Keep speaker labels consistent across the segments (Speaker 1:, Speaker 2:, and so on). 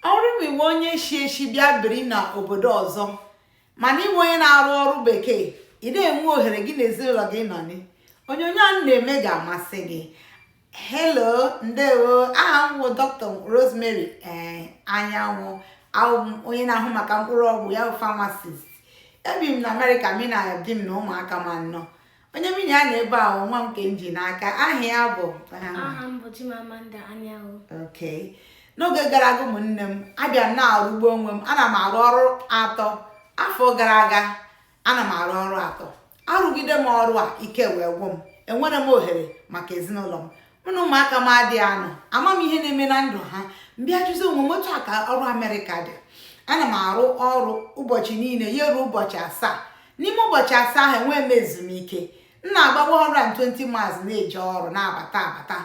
Speaker 1: ọ bụrụ na ị bụ onye shi eshi bịa biri na obodo ọzọ ma na ị bụ onye na-arụ ọrụ bekee ị dịghị enwe ohere gị na ezinụlọ gị nọ ni onyonyo a na-eme ga-amasị gị hello ndewo aha m bụ dr rosemary anyanwụ abụ m onye na-ahụ maka mkpụrụ ọgwụ ya bụ pharmacist ebi m na amerịka mi na di m na ụmụaka m anọ onye mi na ya nọ ebe a wụ nwa m nke m ji n'aka aha ya bụ aha m
Speaker 2: bụ Chimamanda Anyanwụ okay
Speaker 1: n'oge gara aga ụmụnne m abịa m na-arụgbu onwe m ana m arụ ọrụ atọ afọ gara aga ana m arụ ọrụ atọ arụgide m ọrụ a ike wee gwụ m enwerọ m ohere maka ezinụlọ m mụ na ụmụaka m adịghị anọ ama m ihe na-eme na ndụ ha m bịa jụzi onwe m otu a ka ọrụ amerịka dị ana m arụ ọrụ ụbọchị niile ya ruo ụbọchị asaa n'ime ụbọchị asaa ahụ enwee m ezumike m na-agba 120 miles na-eje ọrụ na-abata abata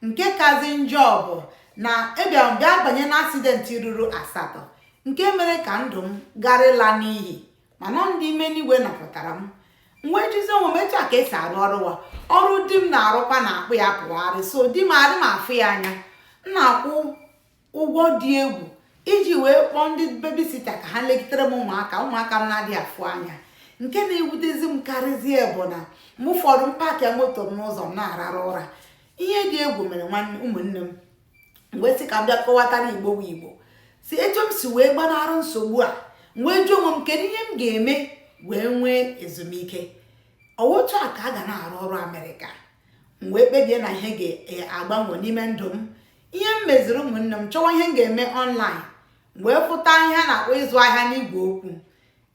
Speaker 1: nke kazi njọ bụ na abịara m bịa banye na asidenti ruru asatọ nke mere ka ndụ m gara ịla n'iyi mana ọ ndị ime n'igwe napụtara m m wee jụzi onwe m etu a ka esi arụ ọrụ wa ọrụ di m na-arụkwa na-akpụ ya pụgharị so di m adị m afụ ya anya m na-akwụ ụgwọ dị egwu iji wee kpọọ ndị bebisita ka ha legidere m ụmụaka m na-adịghị afụ anya nke na-ewutezi m karịzie bụ na mgbe ụfọdụ m paakị moto m n'ụzọ m na-arara ụra ihe dị egwu mere ụmụnne m m wee sị ka m bịa kọwatara igbo bụ igbo si etu m si wee gbanara nsogbu a wee jụọ onwe m kedu ihe m ga-eme wee nwee ezumike otu a ka a ga na-arụ ọrụ amerịka m wee kpebie na ihe ga-agbanwe n'ime ndụ m ihe m meziri ụmụnne m chọwa ihe m ga-eme ọnlaịn wee fụta ihe a na-akpọ ịzụ ahịa n'igwe okwu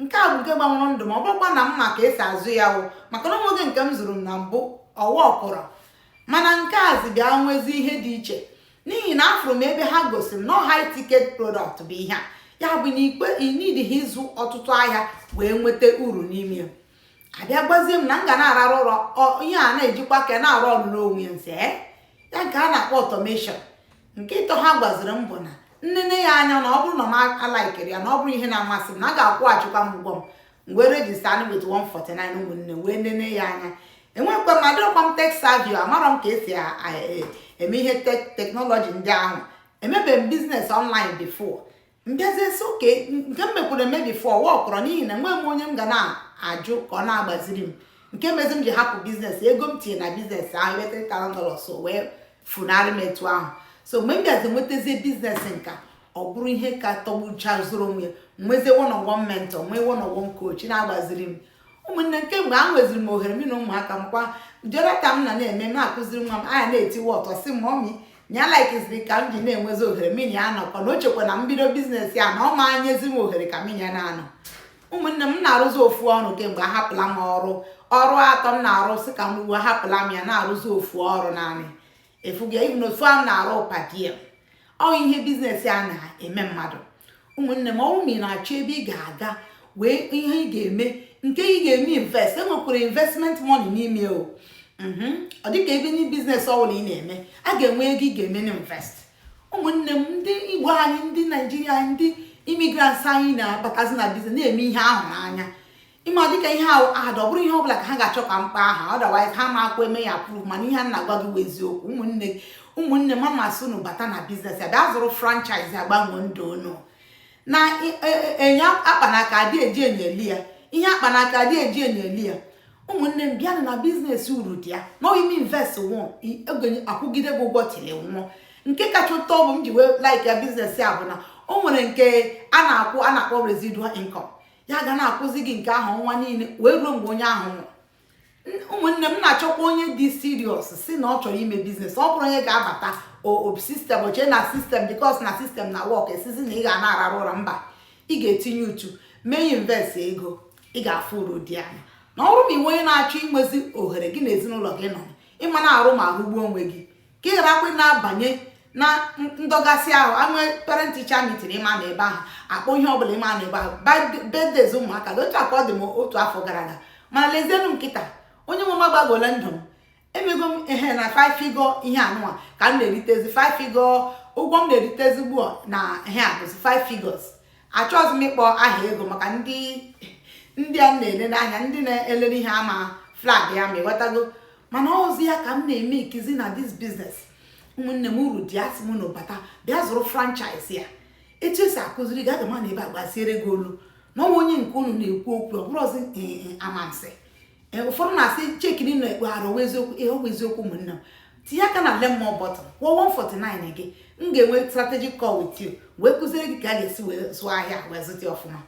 Speaker 1: nke a bụ nke gbanwere ndụ m ọ bụrọkwa na m ma ka esi azụ ya wụ maka na o nwezi nke m zụrụ m na mbụ ọ wọkụrọ mana nke a zi bịa nwezi ihe dị iche n'ihi na afụrụ m ebe ha gosi m na high ticket product bụ ihe a ya bụ nke i nidighi ịzụ ọtụtụ ahịa wee nweta uru n'ime ya a bịa gwazie m na m ga na-ararụ ụra ihe a na-ejikwa aka ya na-arụ ọrụ n'onwe ya nse ya ka a na-akpọ ọtọmeshọn nke ịtọ ha gwaziri m bụ na m nene ya anya na ọ bụrụ na m alaikirọ ya na ọ bụrọ ihe na-amasị m na a ga-akwụghachikwa m ụgwọ m wee rejistanụ wit 149 ụmụnne wee nene ya anya enwekwa m adịrọkwa m tek savi o amarọ m ka esi eme ihe teknọlọji ndị ahụ emebeghị m biznes ọnlaịn bifo m bịazie sị oke nke m mekwuru eme bifo awọkụrọ n'ihi na enweghị m onye m ga na-ajụ ka ọ na-agbaziri m nke mezi m ji hapụ biznes ego m tinye na biznes ahụ ebe 3000 dollars wee funarị m etu ahụ so mgbe m bịazi nwetazie biznes nka ọ bụrụ ihe ka tọgbucha zuru onwe nwezie one on one mentor nwee one on one coach na-agbaziri m ụmụnne m kemgbe a enweziri m ohere m na ụmụaka m kwa jọrọta m na na-eme m akụziri nwa m anya na-etiwe ọtọ sị mọmị na ya laikiziri ka m ji na-enwezi ohere mụ na ya nọkọ na o chekwa na m bido biznes a na ọ ma enyezi m ohere ka mụ na ya na-anọ ụmụnne m na-arụzi ofu ọrụ kemgbe ahapụla m ọrụ ọrụ atọ m na-arụ sị ka m ruo ahapụla m ya na-arụzi ofu ọrụ naanị efuga even otu a m na-arụ per diem ọ ihe bizinesi a na-eme mmadụ ụmụnne m ọ wụ ma ị na-achọ ebe ị ga-aga wee ihe ị ga-eme nke ị ga-eme invest enwekwara investment money n'ime o mhm. ọ dịka ebe ndị biznes ọbụla ị na-eme a ga-enwe ego ị ga-eme na invest ụmụnne m ndị igbo anyị ndị naijiria ndị imigrants anyị na-abatazi na biznes na-eme ihe ahụ n'anya ị ma dịka ihe a bụ ad ọ bụrọ ihe ọbụla ka ha ga-achọ ka m kpaa aha otherwise ha amakwa eme ya approve mana ihe a m na-agwa gị bụ eziokwu ụmụnne m a m asị unu bata na biznes a bịa zụrụ franchise a gbanwee ndụ unu na e, e, e, ihe a kpa n'aka adị eji enyo ele ya ihe a kpa n'aka adị eji enyo ele ya ụmụnne m bịanụ na biznes uru dị ya na ị mee invest once ọ ga na-akwụgide gị ụgwọ till ị nwụọ nke kacha ụtọ bụ m ji wee like ya biznes a bụ na o nwere nke a na-akwụ a na-akpọ residual income ya ga na-akwụzi gị nke ahụ ọnwa niile wee ruo mgbe onye ahụ nwụrụ ụmụnne m na-achọkwa onye dị siriọs si na ọ chọrọ ime biznes ọ bụrọ onye ga-abata ọ bụ sistem o chee na sistem bikos na sistem na-awọk a sịzị na ị ga na-ararụ ụra mba ị ga-etinye uchu mee invest ego ị ga-afụ uru dị na ya na ọ bụrụ ma ị wụ onye na-achọ inwezi ohere gị na ezinụlọ gị ịnọ ị ma na-arụ ma rụgbuo onwe gị ka ị gharakwa na-abanye na ndọgasị ahụ e nwee parent ticha mitin ị ma anọ ebe ahụ a kpọọ ihe ọbụla ị ma anọ ebe ahụ birthdays ụmụaka gị otu a ka ọ dị m otu afọ gara aga mana lezienụ m kịta onye nwe m agbanwola ndụ m emego m ehe na five figure ihe a nụwa ka m na-eritezi five figure ụgwọ m na-eritezi ugbu a na ihe a bụzi five figures achọghịzi m ịkpọ aha ego maka ndị ndị a na-ele n'anya ndị na-ele ihe a ama flag ya ma ịghọtago mana ọ zi ya ka m na-emekizi na dis biznes ụmụnne m uru dị asị m unu bata bịa zụrụ franchise a etu esi akụziri gị aga m anọ ebe a gbaziere gị olu na ọnwa onye nke unu na-ekwu okwu ọ bụrụzi eh, eh, amansi eh, ụfọdụ na-asị cheki na ekpe arụ ọ wụ eziokwu ihe a ọ wụ eziokwu ụmụnne m tinye aka na learn more button kwụọ 149 gị m ga-enwe strategic call with you wee kụziere gị ka a ga-esi wee zụọ ahịa wee zụta ọfụma